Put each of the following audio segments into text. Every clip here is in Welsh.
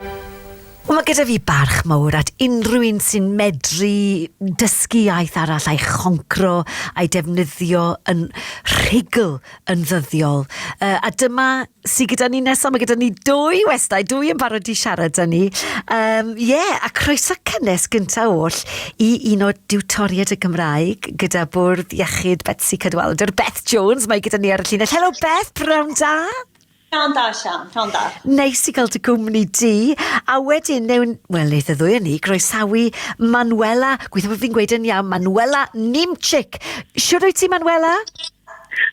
Wel, mae gyda fi barch mawr at unrhyw un sy'n medru dysgu iaith arall a'i choncro a'i defnyddio yn rhugl yn ddyddiol. Uh, a dyma sy'n gyda ni nesaf, mae gyda ni dwy westau, dwy yn barod i siarad â ni. Um, yeah, a croeso cynnes gyntaf oll i un o diwtoriad y Gymraeg gyda bwrdd iechyd Betsy Cadwaladr, Beth Jones, mae gyda ni ar y llinell. Helo Beth, pnawn da! Pnawn da, Sian. Pnawn da. Neis i gael dy gwmni di. A wedyn, newn, wel, neith y ddwy o ni groesawu Manuela, gweithio bod fi'n gweud yn iawn, Manuela Nimchik. Siwr wyt ti, Manuela?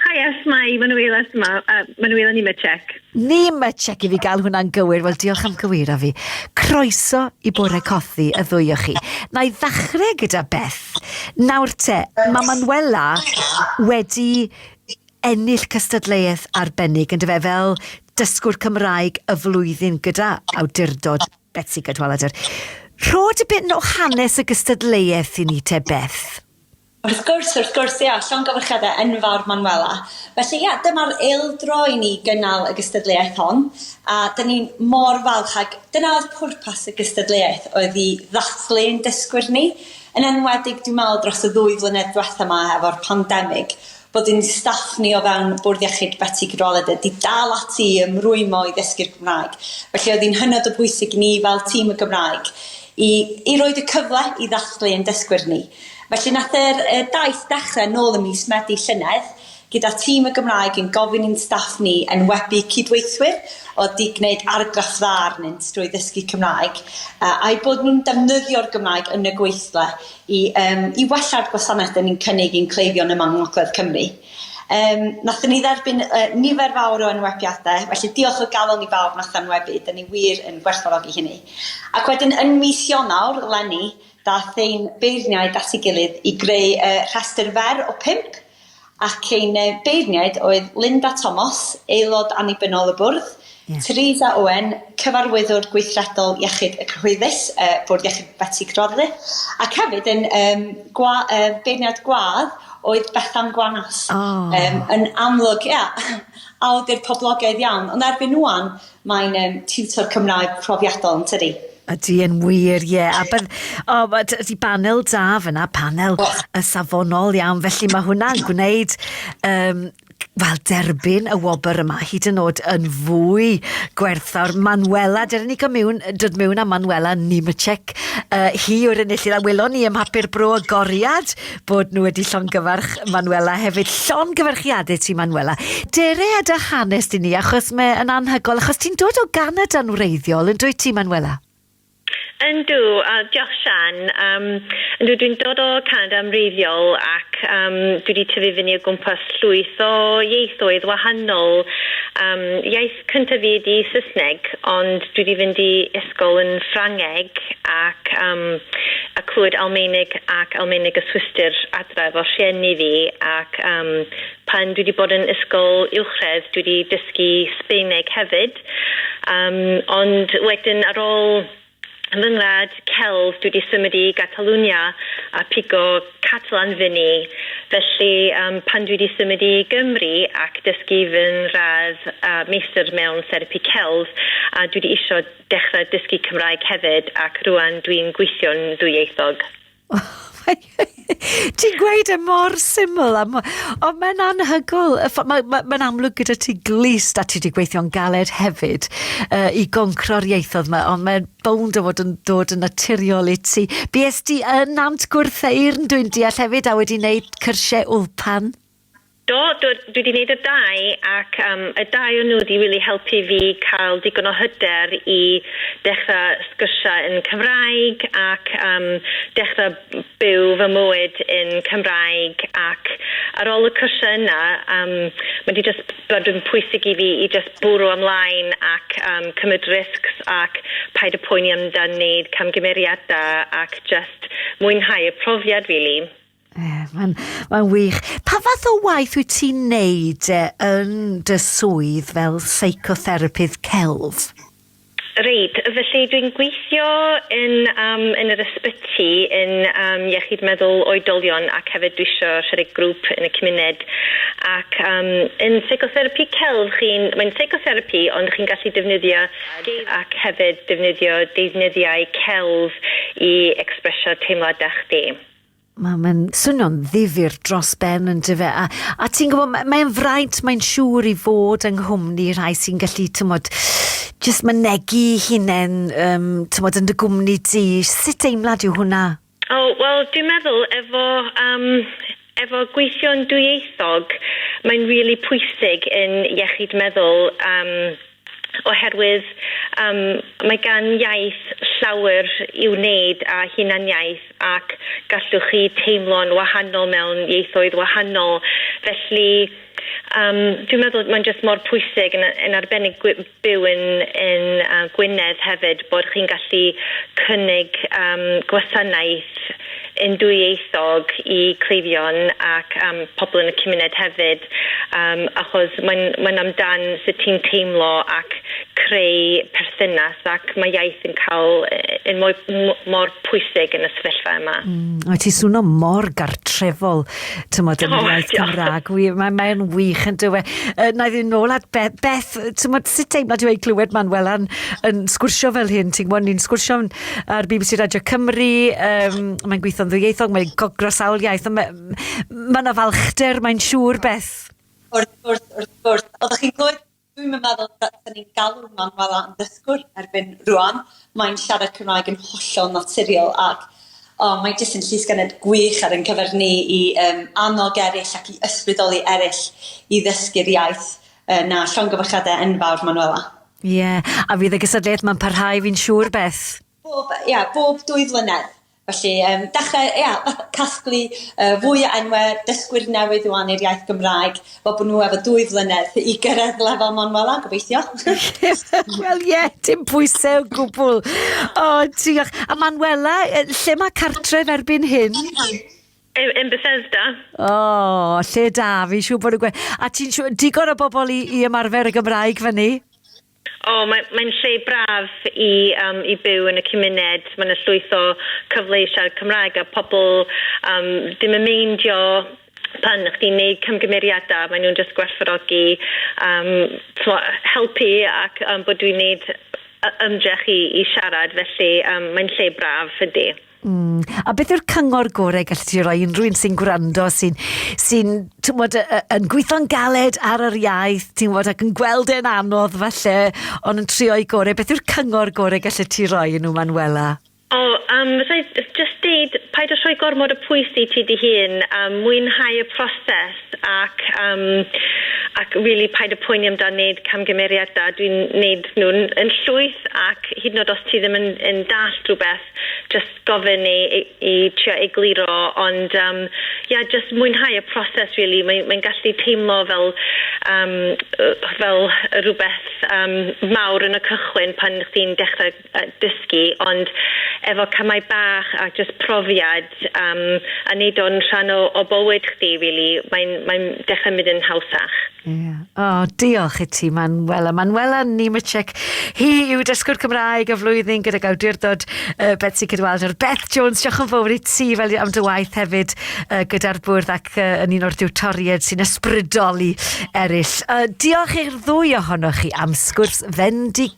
Hi, yes, mae Manuela yma, uh, Manuela Nimchik. Nimchik i fi gael hwnna'n gywir. Wel, diolch am gywir a fi. Croeso i bore cothi y ddwy o chi. Na i ddechrau gyda Beth. Nawr te, mae Manuela wedi ennill cystadleuaeth arbennig yn dy fe fel Dysgwr Cymraeg y Flwyddyn gyda awdurdod Betsi Cadwaladr. Rho dipyn o hanes y gystadleuaeth i ni te Beth. Wrth gwrs, wrth gwrs, ia, llongyfarchiadau enfawr Manuela. Felly ia, dyma'r eildro i ni gynnal y gystadleuaeth hon, a dyn ni mor falch ac dyna oedd pwrpas y gystadleuaeth oedd i ddathlu ein dysgwyr ni, yn enwedig dwi'n meddwl dros y ddwy flynedd diwetha 'ma efo'r pandemig. bod ein staff ni o fewn Bwrdd Iechyd Betsi Cadwaladr 'di dal ati i ymrwymo i ddysgu'r Gymraeg, felly oedd hi'n hynod o bwysig i ni fel tîm y Gymraeg i i roid y cyfle i ddathlu ein dysgwyr ni. Felly nath yr y daith ddechre nôl ym mis Medi llynedd gyda tîm y Gymraeg yn gofyn i'n staff ni enwebu cydweithwyr o'dd 'di gneud argraff dda arnynt drwy ddysgu Cymraeg a a'u bod nhw'n defnyddio'r Gymraeg yn y gweithle i yym i wella'r gwasanaeth 'dyn ni'n cynnig i'n cleifion yma yng ngogledd Cymru. Yym nathon ni dderbyn yy nifer fawr o enwebiade felly diolch o galon i bawb nath enwebu 'dyn ni wir yn gwerthfawrogi hynny. Ac wedyn yn mis Ionawr leni dath ein beirniaid at ei gilydd i greu yy rhestyr fer o pump ac ein beirniaid oedd Linda Thomas, Aelod Annibynnol y Bwrdd, yeah. Teresa Owen, Cyfarwyddwr Gweithredol Iechyd y Cyhoeddus, y Bwrdd Iechyd Betsi Crodle, ac hefyd yn um, gwa, uh, beirniad gwadd oedd Bethan Gwanas. Oh. Um, yn amlwg, ia, awdur poblogaidd iawn, ond erbyn wwan, Mae'n yym tiwtor Cymraeg profiadol, yn tydi? Ydy yn wir, ie. A bydd... O, ma- t- ydy banel da fyna, panel oh. y safonol iawn. Felly mae hwnna'n gwneud um, wel, derbyn y wobr yma hyd yn oed yn fwy gwerthfawr. Manuela, dyn ni mewn, dod mewn â Manuela Nimacek. Uh, hi yw'r enillydd a welon ni ym mhapur bro agoriad bod nhw wedi llongyfarch Manuela hefyd. Llongyfarchiadau ti, Manuela. Dere a dy hanes di ni, achos mae yn anhygol, achos ti'n dod o Ganada'n wreiddiol, yn dweud ti, Manuela? Yndw, a diolch Sian. Um, yndw, dwi'n dod o Canada yn wreiddiol ac um, dwi wedi tyfu fyny o gwmpas llwyth o ieithoedd wahanol. Um, iaith Cyntaf fi ydi Saesneg ond dwi di fynd i ysgol yn Ffrangeg ac am a clywed Almaeneg ac Almaeneg y Swistir adra efo rhieni fi ac am pan dwi di bod yn ysgol uwchradd dwi di dysgu Sbaeneg hefyd am ond wedyn ar ôl Yn fy ngwlad, celf, dwi 'di symud i Gatalwnia a pigo Catalan fy ni, felly yym pan dwi 'di symud i Gymru ac dysgu fy'n radd a meistr mewn therapi celf a dwi 'di isio dechra dysgu Cymraeg hefyd ac rŵan dwi'n gweithio'n ddwyieithog. Ti'n gweud e mor syml, a mo- ond mae'n anhygoel. Y ffo- mae- mae- Mae'n amlwg gyda ti glust a ti wedi gweithio'n galed hefyd uh, i goncro'r ieithoedd yma, ond mae'n bownd o fod yn dod yn naturiol i ti. Bues di yn Nant Gwrtheyrn, dwi'n deall hefyd, a wedi wneud cyrsiau Ulpan. Do, do, dwi 'di neud y dau ac yym y dau o nhw 'di rili helpu fi ca'l digon o hyder i dechra sgyrsia yn Cymraeg ac yym dechra byw fy mywyd yn Cymraeg ac ar ol y cyrsia yna yym ma' 'di jyst bod yn pwysig i fi i jyst bwrw ymlaen ac yym cymryd risgs ac paid â poeni amdan neud camgymeriada ac jyst mwynhau y profiad rili. Ie, mae'n ma wych. Pa fath o waith wyt ti'n neud e, yn dy swydd fel seicotherapydd celf? Reit, felly dwi'n gweithio yn, um, yn yr ysbyty yn um, iechyd meddwl oedolion ac hefyd dwi isio rhedeg grŵp yn y cymuned ac um, yn seicotherapy celf chi'n, mae'n seicotherapy ond chi'n gallu defnyddio ac hefyd defnyddio deuddnyddiau celf i expresio teimladau chdi. Mae mae'n swnio'n ddifyr dros ben yn dyfe. A, a ti'n gwybod, mae'n mae fraint, mae'n siŵr i fod yng nghwmni rhai sy'n gallu, tymod, jyst mynegu hunain, um, tymod, yn dy gwmni di. Sut deimlad yw hwnna? O, oh, wel, dwi'n meddwl efo, um, efo gweithio'n dwyieithog, mae'n rili really pwysig yn iechyd meddwl um, oherwydd yym mae gan iaith llawer i'w wneud â hunaniaeth ac gallwch chi teimlo'n wahanol mewn ieithoedd wahanol felly yym dwi'n meddwl mae'n jyst mor pwysig yn yn arbennig gwi- byw yn yn yy Gwynedd hefyd bod chi'n gallu cynnig yym gwasanaeth yn dwyieithog i cleifion ac am pobl yn y cymuned hefyd yym achos mae'n mae'n amdan sut ti'n teimlo ac creu perthynas ac mae iaith yn cael yy yn mwy m- mor pwysig yn y sefyllfa yma. Mm, mae ti swno mor gartrefol, tymod, yn oh, iaith Cymraeg. Mae'n mae wych yn dywe. Uh, na i ddyn nôl at Beth, Beth tymod, sut teimlad yw ei glywed Manuela'n yn sgwrsio fel hyn? Ti'n gwybod, ni'n sgwrsio'n ar BBC Radio Cymru, um, mae'n gweithio'n ddwyieithog, mae'n gogro sawl iaith, mae ma yna falchder, mae'n siŵr beth. Wrth gwrs, wrth gwrs. Oeddech chi'n gwybod, dwi'n meddwl da ni'n galw Manuel am ddysgwr erbyn rwan. Mae'n siarad Cymraeg yn hollol naturiol ac oh, mae jyst yn llysgennad gwych ar ein cyfer ni i um, annog eraill ac i ysbrydoli eraill i ddysgu'r iaith uh, na llongyfarchiadau enfawr, Manuela. Ie, yeah. a fydd y gysadleuaeth mae'n parhau fi'n siŵr beth? Bob, ia, yeah, bob dwy flynedd. Felly, um, dechrau, ia, yeah, casglu uh, fwy o enwau dysgwyr newydd o i'r iaith Gymraeg, fel bod nhw efo dwy flynedd i gyrraedd lefel Manuela, gobeithio. Wel, ie, yeah, dim pwysau o gwbl. O, oh, diolch. A Manuela, lle mae cartref erbyn hyn? Yn, yn Bethesda. O, oh, lle da, fi siw bod yn gweud. A ti'n siw, digon o bobl i, i ymarfer y Gymraeg fyny? O, oh, mae'n mae lle braf i, um, i byw yn y cymuned. Mae'n y llwyth o cyfle i siarad Cymraeg a pobl um, ddim yn meindio pan chdi'n neud cymgymeriadau, maen nhw'n just gwerthfawrogi um, helpu ac um, bod dwi'n neud ymdrech i, i siarad, felly um, mae'n lle braf ydy. Mm. A beth yw'r cyngor gorau gallu ti roi unrhyw un sy'n gwrando, sy'n sy tywod, yn gweithio'n galed ar yr iaith, ti'n gwybod, ac yn gweld e'n anodd falle, ond yn trio i gorau. Beth yw'r cyngor gorau gallu ti roi yn nhw, Manuela? O, um, rhaid just deud, paid o rhoi gormod o pwys i ti dy hun, um, mwynhau y proses ac, um, ac really paid o poeni amdano wneud camgymeriadau. Dwi'n wneud nhw'n yn llwyth ac hyd yn oed os ti ddim yn, yn dall rhywbeth, Jyst gofyn i i i trio egluro ond yym ie jyst mwynhau y proses rili mae mae'n gallu teimlo fel yym yy fel rwbeth yym mawr yn y cychwyn pan chdi'n dechre yy dysgu ond efo camau bach a jyst profiad Yym a neud o'n rhan o o bywyd chdi rili mae'n mae'n dechre mynd yn hawsach. Ie. O, diolch i ti Manuela. Manuela Nemecek. Hi yw dysgwr Cymraeg y flwyddyn gydag awdurdod uh, Betsy Cydwalder. Beth Jones, diolch yn fawr i ti fel am dy waith hefyd uh, gyda'r bwrdd ac uh, yn un o'r diwtoried sy'n ysbrydoli eraill. Uh, diolch i'r ddwy ohonoch chi am sgwrs fendig